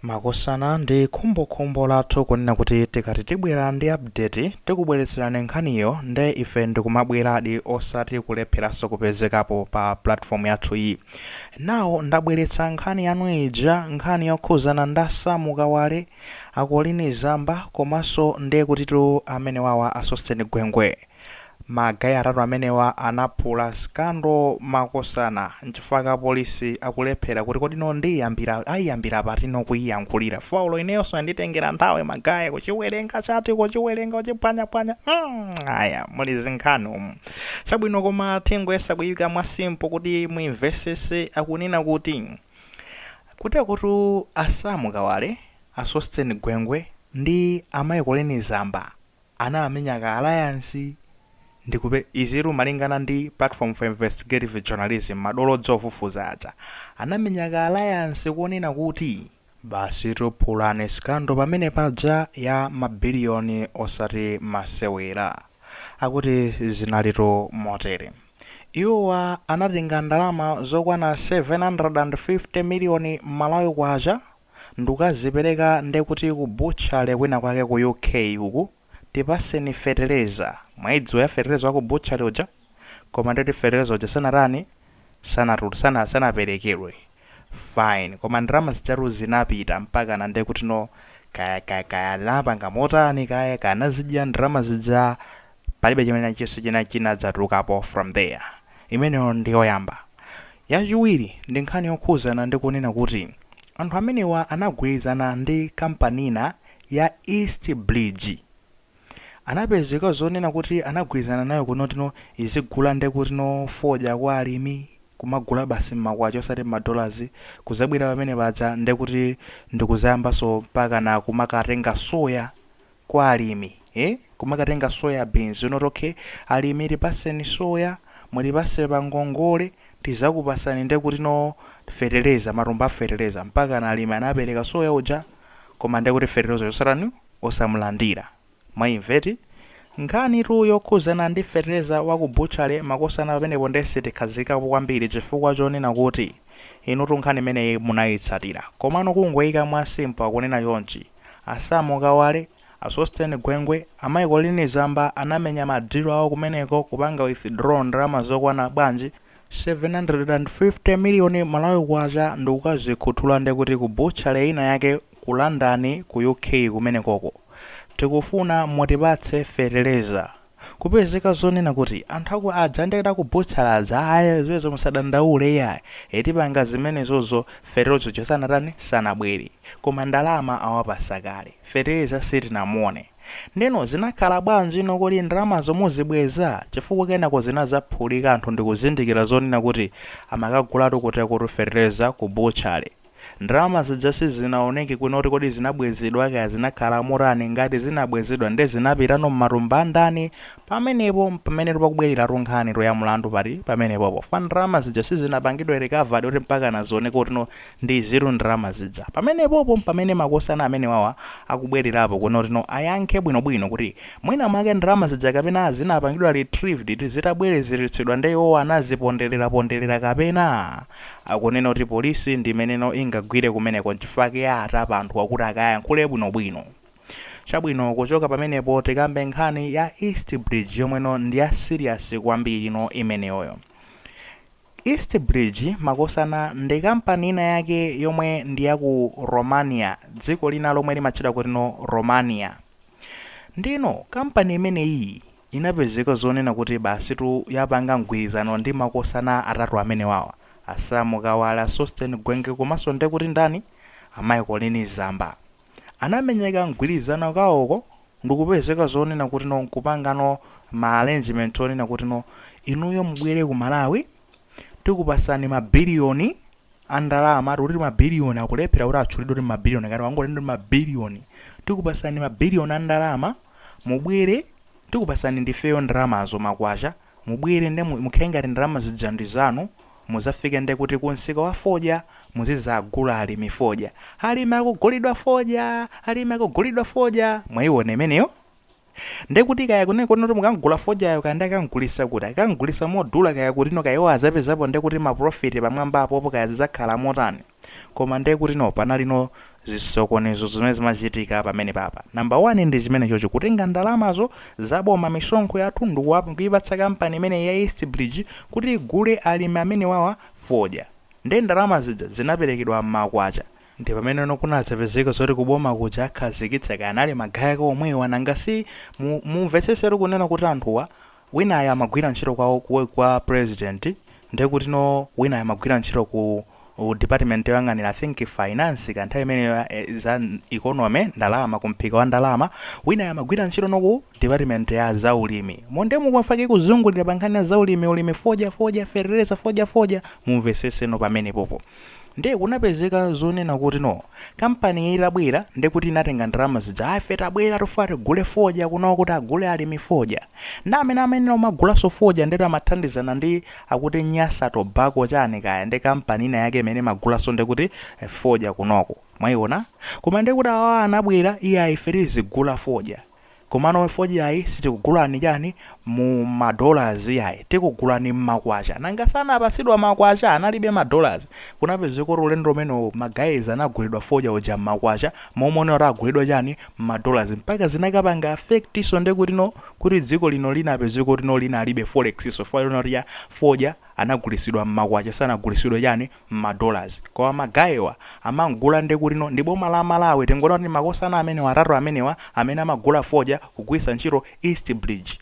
Makosana ndi khumbokhumbo lathu kunena kuti tikati tibwera ndi update tikubweretserani nkhaniyo nde ife ndikumabweradi osati kulepheranso kupezekapo pa platform yathu yi. Now ndabweretsa nkhani yanu ija nkhani yokhuzana nda Sam Kawale, a Colleen Zamba komanso ndekutitu amenewawa a Sosten Gwengwe. Ma guy atatu amenewa anaphula scandal makosana nchifukwa chake police akulephera kuti kodi no ndiyiyambira ayiyambire pati no kuyiyankhulira fukwa olo ineyonso yanditengera nthawi ma guy kuchiwelenga chati kuchiwelenga kuchipwanyapwanya mm aya muli zinkhani umu chabwino koma tingoyesa kuyika mwa simple kuti muyimvesese akunena kuti kutekotu a Sam Kawale a Sosten Gwengwe ndi a mai Colleen Zamba anamenya ka alliance ndikupeza izitu malingana ndi platform for investigative journalism madolo odziwa kufufuza aja anamenya ka alliance konena kuti basi tiphulane scandal pamene paja ya ma billion osati masewera akuti zinalitu motere iwowa anatenga ndalama zokwana 750 million malawi kwacha ndukazipeleka ndekuti ku butchery kwina kwake ku UK uku tipaseni fetereza mwaidziwa za fetereza waku butchery uja koma ndeti fetereza uja sanatani sanatu sana sanapelekedwe fine koma ndalama zijatu zinapita mpaka ndekuti no kaya kaya kaya anapanga motani kaya kaya anazidya ndalama zija Palibe chimene chilichonse chinadzatulukapo from there. Imeneyo ndi yoyamba. Yachiwiri ndi nkhani yokhudzana ndi kunena kuti anthu amenewa anagwirizana ndi kampani ina ya East Bridge. Anapezeka zonena kuti anagwirizana nayo kunena kuti no izigula nde kuti no fodya kwa alimi, kumagula basi m'makwacha osati m'ma dollars, kudzabwera pamene paja nde kuti ndi kudzayambanso mpakana kumakatenga soya, kwa alimi eh kumakatenga soya beans kunena kuti okay alimi tipaseni soya mutipatse pangongole tizakupatsani ndekuti no feteleza matumba a feteleza mpaka na alimi anapereka soya uja koma ndekuti fetelezayo osatani osamulandira mwaimva eti nkhanitu yokhuzana ndi feteleza wa ku butchale makosana pamenepo nde sitikhazikapo kwambiri chifukwa chonena kuti inutu nkhani imeneyi munayitsatira komano kungoyika mwa simple akunena chonchi A Sam Kawale, a Sosten Gwengwe, a mai Colleen Zamba anamenya ma deal awo kumeneko kupanga withdraw ndalama zokwana bwanji? 750 million Malawi Kwacha ndikukazikhuthula nde kuti ku butchery ina yake ku London ku UK kumenekoko. Tikufuna mutipatse fetereza. Kupezeka zoonena kuti anthu aku aja nde aku butchery aja ayi zimenezo musadandaule iyayi ee tipanga zimenezozo fertilizer uja sanatani sanabwere koma ndalama awapasa kale fertilizer sitinamuone ndeno zinakhala bwanji nanga kodi ndalamazo muzibweza chifukwa kenako zinazaphulika anthu ndikuzindikira zoonena kuti amakagulatu kuti kotu fertilizer ku butchery Ndalama zija sizinaoneke kunena kuti kodi zinabwezedwa kaya zinakhala motani, ngati zinabwezedwa nde zinapitano mmatumba andani, pamenepo mpamenetu pakubwereratu nkhanitu ya mlandu pati pamenepopo chifukwa ndalama zija sizinapangidwe recovered kuti mpakana zioneke kuti no ndi izitu ndalama zija, pamenepopo mpamene makosana amenewawa akubwererapo kunena kuti no ayankhe bwinobwino kuti mwina mwake ndalama zija kapena zinapangidwa retrieved zitabwerezeretsedwa nde iwowo anazipondereraponderera kapena. Akunena kuti polisi ndimeneno ingagwire kumeneko nchifukwa chake yatapa anthuwa kuti akayankhule bwinobwino. Chabwino kuchoka pamenepo tikambe nkhani ya East Bridge yomweno ndi ya serious kwambirino imeneyoyo. East Bridge makosana ndi kampani ina yake yomwe ndi ya ku Romania dziko lina lomwe limatchedwa kutino Romania. Ndiyeno kampani imeneyiyi inapezeka zoonena kuti basitu yapanga mgwirizano ndi makosana atatu amenewawa, a Sam Kawale, a Sosten Gwengwe komanso nde kuti ndani? a Colleen Zamba. Anamenyeka mgwirizano kawoko ndikupezeka zoonena kuti no nkupanga no ma arrangement oonena kuti no inuyo mubwere ku Malawi tikupasani ma billion, a ndalama tikuti ma billion akulephera kuti atchulidwe kuti ma billion angati angoti ndi ma billion tikupasani ma billion a ndalama mubwere tikupasani ndifeyo ndalamazo makwacha mubwere nde mu- mukhale ngati ndalama zija ndi zanu muzafike nde kuti ku msika wa fodya muzizagula alimi fodya alimi akugulidwa fodya alimi akugulidwa fodya mwaiona imeneyo Ndekuti kaya kunena kutino akamgula fodyayo kaya nde akamgulisa kuti, akamgulisa modula kaya kutino kaya iwo azapezapo ndekuti ma profit pamwamba apopo kaya zizakhala motani koma ndekutino panali no zisokonezo zimene zimachitika pamenepapa number one ndi chimenechocho kutenga ndalamazo za boma misonkho yathu ndikuipatsa kampani imeneyi ya East bridge kuti igule alimi amenewawa fodya nde ndalama zija zinaperekedwa mmakwacha Nde pamenono kunazapezeka zoti ku boma kuja akhazikitsa kaya anali ma guy ake omwewa nanga si mu mumvetsesetu kunena kuti anthuwa winayo amagwira ntchito kwa kwa kwa president ndekuti no winayo amagwira ntchito ku department yoyang'anira I think finance ka nthawi imeneyo ya za economy ndalama ku mphika wa ndalama winayo amagwira ntchito no ku Department ya za ulimi. Moti ndekuti fake kuzungulira pa nkhani ya za ulimi, ulimi fodya, fodya, fetereza fodya, fodya, mumvesese no pamenepo apa. Nde kunapezeka zonena kuti no, kampani iyi itabwera, nde kuti inatenga ndalama zija, ah ife tabwera tufuna tigule fodya kuno kuti agule alimi fodya. Nde amene amayenera kumagulaso fodya nde amathandizana ndi akuti Nyasa Tobacco chani kaya, nde kampani ina yake imene imagulaso nde kuti fodya kunoko. Mwaiona? Koma nde kuti awawa anabwera, iyayi ife tizigula fodya. Komano fodya ayi sitikugulani chani mu ma dollars iyayi tikugulani mma kwacha nanga si anapasidwa ma kwacha analibe ma dollars kunapezeka kuti ulendo umene ma guys anagulidwa fodya uja mma kwacha mmalo mona kuti agulidwa chani mma dollars mpaka zinakapanga affect so ndekuti no kuti dziko lino linapezeka kuti no linalibe forex so chifukwa chona kuti ya fodya anagulisidwa mma kwacha sanagulisidwe chani ma dollars koma ma guy awa amamgula ndekutino ndi boma la malawi tingonena kuti makosana amene atatu amenewa amene amagula fodya kugwilitsa ntchito east bridge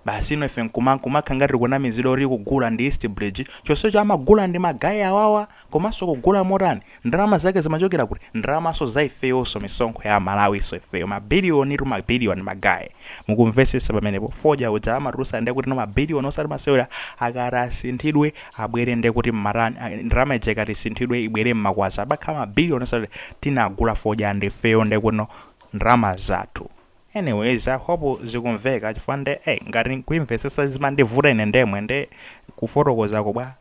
basi no ife nkuma nkumakhala ngati tikunamizidwa kuti kugula ndi east bridge chonsecho amagula ndi ma guy awawa komanso kugula motani ndalama zake zimachokera kuti ndalamaso za ifeyonso misonkho ya amalawiso ifeyo ma billiontu ma billion ma guy mukumvesesa pamenepo fodya uja amatulusa ndekutino ma billion osati masewera akati asinthidwe abwere nde kuti mmati ndalama ija ikati isinthidwe ibwere mmakwacha ibakhala ma billion oti tinagula fodya ndi ifeyo ndekuti no ndalama zathu anyways i hope zikumveka chifukwa nde eh ngati kuimvesesa zimandivuta ine ndemwe nde kufotokoza ko bwa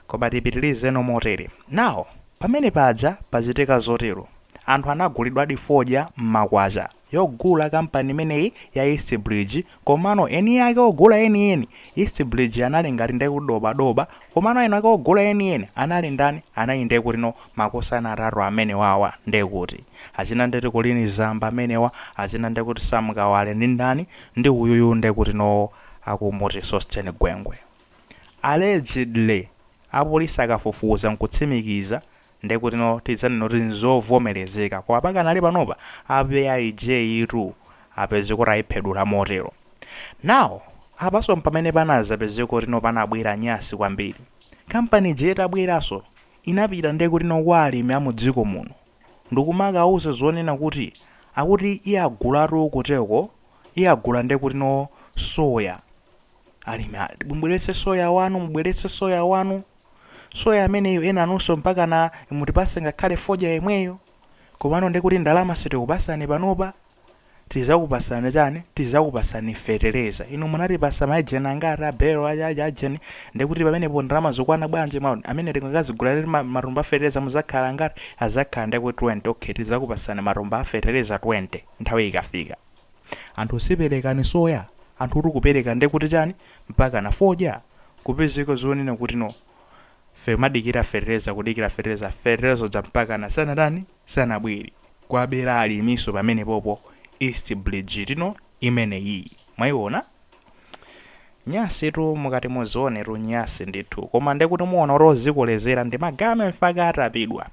koma tipitilizeno motere now pamene paja pachitika zotero anthu anagulidwadi fodya mmakwacha yogula kampani imeneyi ya east bridge Komano eni ake ogula eni eni East Bridge anali ngati ndekuti dobadoba komano eni ake ogula eni eni anali ndani anali nde kuti no makosana atatu amenewa awa nde kuti achina nde ti Colleen Zamba amenewa achina nde kuti Sam Kawale ndi ndani ndi uyuyu nde kuti no akumuti Sosten Gwengwe allegedly apolisi akafufuza nkutsimikiza Ndekutino tidzanena kuti nzovomerezeka koma pakanali panopa ape AIJ tu apeza kuti ayiphedula motero. Now apaso mpamene panazapezeka kutino panabwera nyasi kwambiri. Kampani ija itabweraso inapita ndekutino kwa alimi amudziko muno ndikumakawuza zonena kuti akuti iagulatu kuteko iagula ndekutino soya. Alimi ati mubweretse soya wanu mubweretse soya wanu. Soya ameneyo enanunso mpakana mutipase ngakhale fodya yemweyo? Komano ndiye kuti ndalama sitikupasani panopa? Tizakupasani chani? Tizakupasani fetereza. Inu munatipasa ma ejeni angati a belo aja aja ajeni ndiye kuti pamenepo ndalama zikukwana bwanji mwa amene tingakazigula matumba a fetereza muzakhala angati? Azakhala ndiye kuti 20. Okay tizakupasani matumba a fetereza 20 nthawi ikafika. anthu si perekani soya, anthutu kupereka nde kuti chani? Mpakana fodya kupezeka zonena kuti no fe kumadikira fetereza kudikira fetereza fetereza uja mpakana sanatani sanabwere kwabera alimiso pamenepopo East Bridge'tuno imeneyiyi mwaiona nyasitu mukati muzionetu nyasi ndithu koma nde kuti muona kuti ozikolezera ndi ma guy mpaka atapidwa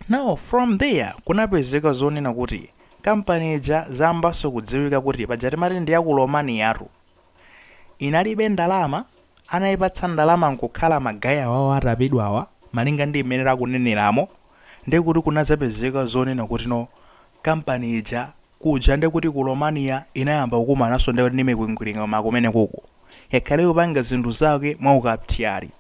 now from there kunapezeka zonena kuti Kampani ija zayambaso kudziwika kuti paja timati ndi ya ku Romaniyatu inalibe ndalama anaipatsa ndalama nkukhala ma guy awawa atapidwawa malinga ndi mmene akuneneramo nde kuti kunadzapezeka zonena kuti no kampani ija kuja nde kuti ku Romania inayamba kukumananso ndi mikwingwirima makumenekuku yakhale ikupanga zinthu zake mwaukaptyali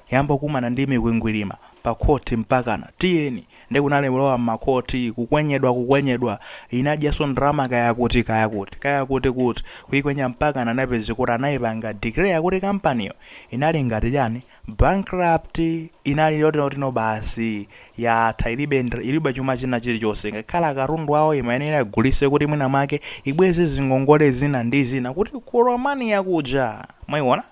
yamba kukumana ndi mikwingwilima pa court mpakana tiyeni nde kunali kulowa mma court kukwenyedwa kukwenyedwa inadyaso ndalama kaya kuti kaya kuti kaya kuti kuti kuikwenya mpakana anapezeka kuti anaipanga declare kuti company'yo inali ngati chani bankrupt inali yoti yotino basi yatha ilibe ndra- ilibe chuma china chilichonse ngakhale akatundu awo imayenera agulise kuti mwina mwake ibweze zingongole zina ndi zina kuti ku romania kuja mwaiona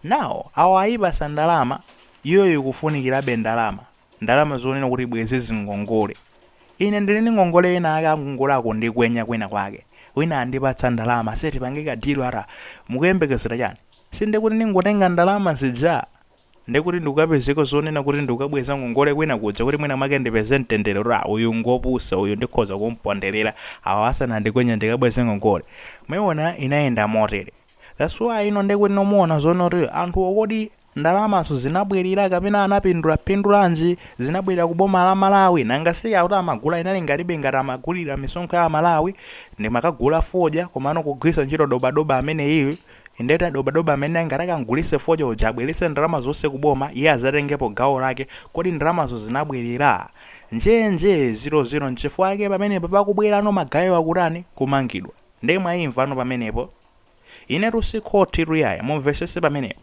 Now awa ayipasa ndalama iyoyo ikufunikirabe ndalama ndalama zonena kuti ibweze zingongole ine ndili ndi ngongole ena ake angongole akundikwenya kwina kwake wina andipatsa ndalama ase tipange ka deal ara mukuyembekezera chani sindekuti ndingotenga ndalama zija ndekuti ndikukapezeka zonena kuti ndikukabweza ngongole kwina kuja kuti mwina mwake ndipeze mtendere ra uyu ngopusa uyu ndikhoza kumponderera awa asanandikwenye ndikabweze ngongole mwaiona inayenda motere That's why ino ndekuti no muona zoona kuti anthuwo kodi ndalamazo zinabwerera kapena anapindula pindulanji zinabwerera ku boma la Malawi nanga si akuti amagula inali ngatibe ngati amagulira misonkho ya aMalawi nde amakagula fodya komano kugwiritsa ntchito dobadoba ameneyiyu indeta dobadoba amene angati akamgulitse fodya uja abweretse ndalama zonse ku boma iye adzatengepo gawo lake kodi ndalamazo zinabwerera njenje zilozilo nchifukwa chake pamenepo pakubwerano ma guy'wa akutani kumangidwa Nde mwayimvano pamenepo? Inetu si khotitu yayi, mumvesese pamenepo.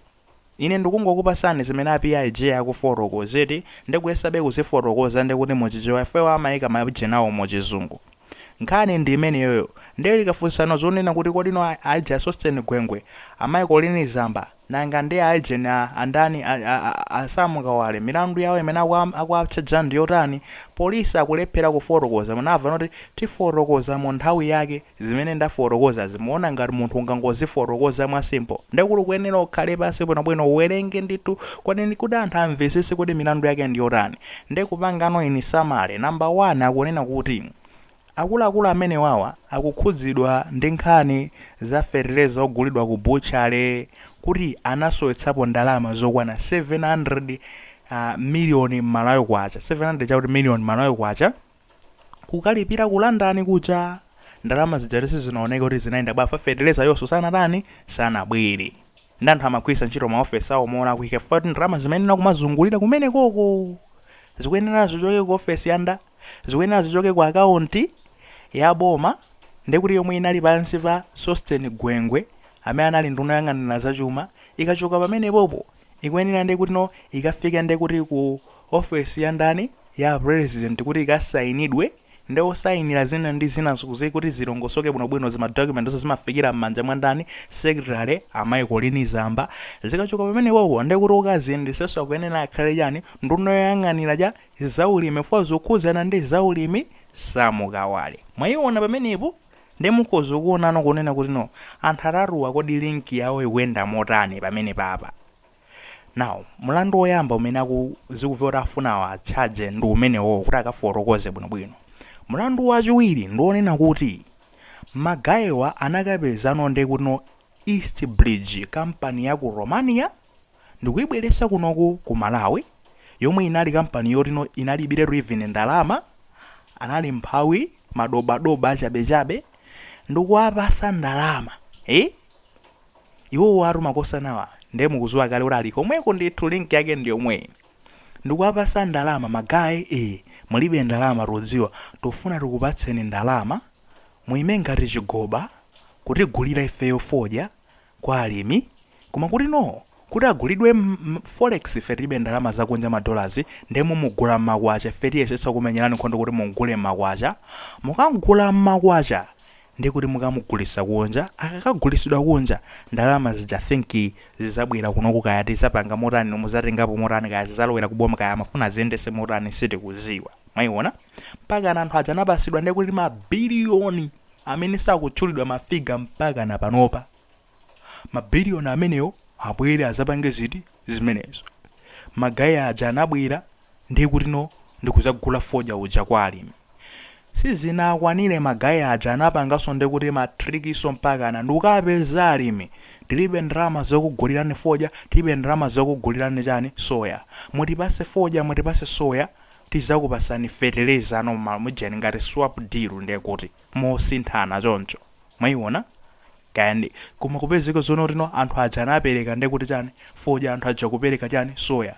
Ine ndikungokupasani zimene a PIJ akufotokozatu nde kuyesabe kuzifotokoza nde kuti mu Chichewa ife awa amaika majinawo mu chizungu. Nkhani ndi imeneyoyo nde likafunsano zonena kuti kodino aija a Sosten Gwengwe, a mayi Colleen Zamba, Nanga nde aija andani a a a a Sam Kawale milandu yawo imene akuwa akuwatchaja ndiyotani? Police akulephera kufotokoza munamva noti tifotokoza munthawi yake zimene ndafotokozazi muona ngat munthu ungangozifotokoza mwa simple? Nde kut ukuyenera ukhale pansi bwinobwino uwerenge ndithu kodi kuti anthu amvesese kuti milandu yake ndiyotani nde kupangano in summary number one akunena kuti Akuluakulu amenewawa akukhudzidwa ndi nkhani za fetereza ogulidwa ku butchery kuti anasowetsapo ndalama zokwana 700 miliyoni Malawi kwacha, 700 chakuti miliyoni Malawi kwacha, kukalipira ku London kuja. Ndalama zijatu sizinaoneke kuti zinayenda bwa fa feterezayonso sanatani, sanabwere. Ndiye anthu amagwiritsa ntchito maofesi awo molakwika chifukwa ndalama zimayenera kumazungulira kumenekoko. Zikuyenera zichoke ku ofesi ya nda? zikuyenera zichoke ku account ya boma ndekuti yomwe inali pansi pa Sosten Gwengwe amene anali nduna yoyang'anira zachuma ikachoka pamenepopo ikuyenera ndekuti no ikafike ndekuti ku office ya ndani ya president kuti ikasainidwe nde osainira zina ndi zina kuti zilongosoke bwinobwino zima document zonse zimafikira m'manja mwa ndani secretary amayi Colleen Zamba zikachoka pamenepopo ndekuti okaziyendetsatso akuyenera akhale chani nduna yoyang'anira cha zaulimi for zokhudzana ndi zaulimi Sam Kawale mwaiona pamenepo nde mukhoza kuonano kunena kuti no anthu atatuwa kodi link yawo ikuyenda motani pamenepapa now mlandu woyamba umene aku zikumveka kuti afuna awa charge ndi umenewo kuti akafotokoze bwinobwino mlandu wachiwiri ndi onena kuti ma guy-wa anakapezano nde kuti no East Bridge kampani ya ku Romania ndikuibweresa kunoku ku Malawi yomwe inali kampani yotino inalibiretu even ndalama anali mphawi madobadoba achabechabe ndikuwapasa ndalama eh iwowatu makosanawa nde mukuziwa kale kuti ali komweko ndithu link yake ndiyomweyi ndikuwapasa ndalama ma guy eh mulibe ndalama tikudziwa tufuna tikupatseni ndalama muime ngati chigoba kutigulira ifeyo fodya kwa alimi koma kutino kuti agulidwe mm forex ife tilibe ndalama zakunja ma dollars nde mumugula mmakwacha ife tiyesetsa kukumenyelani nkhondo kuti mumgule mmakwacha mukamgula mmakwacha nde kuti mukamugulisa kunja akakagulisidwa kunja ndalama zija think zizabwela kunoku kaya tizapanga motani no muzatengapo motani kaya zizalowela ku boma kaya amafuna aziyendese motani sitikuziwa mwaiona mpakana anthu aja anapasidwa nde kuti ma billion amene sakutchulidwa ma figure mpakana panopa. Ma billion amenewo abwere azapange ziti? Zimenezo. Ma guy aja anabwera nde kuti no ndikuzagula fodya uja kwa alimi. Sizinakwanire ma guy aja anapanganso nde kuti ma trick so mpakana ndikukapeza alimi. Tilibe ndalama zokugulirani fodya, tilibe ndalama zokugulirani chani? Soya. Mutipase fodya, mutipase soya, tizakupasani feteleza normal mujeni ngati swap deal ndekuti mosinthana choncho mwaiona kani koma kupezeka zonotino anthu aja anapeleka ndekuti chani fodya anthu aja kupeleka chani soya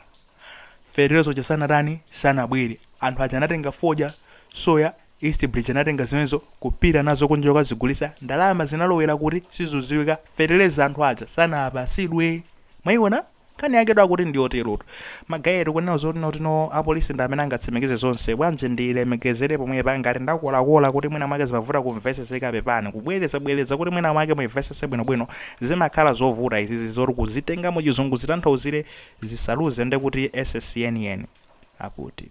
feteleza uja sanatani sanabwele anthu aja anatenga fodya soya East Bridge anatenga zimenezo kupita nazo kunja kukazigulisa ndalama zinalowela kuti sizuziwika feteleza anthu aja sanapasidwe mwaiona Nkhani yaketu akuti ndiyoterotu. Magaye tikunena zoti notino apolisi ndi amene angatsimikize zonse. Bwanji ndilemekezere pomwepa ngati ndakolakola kuti mwina mwake zimavuta kumveseseka pepani. Kubwereza bwereza kuti mwina mwake muimvesese bwino bwino zimakhala zovuta izizi zoti kuzitenga mu chizungu zitanthauzire zisaluze ndekuti essence yeniyeni. Akutitu.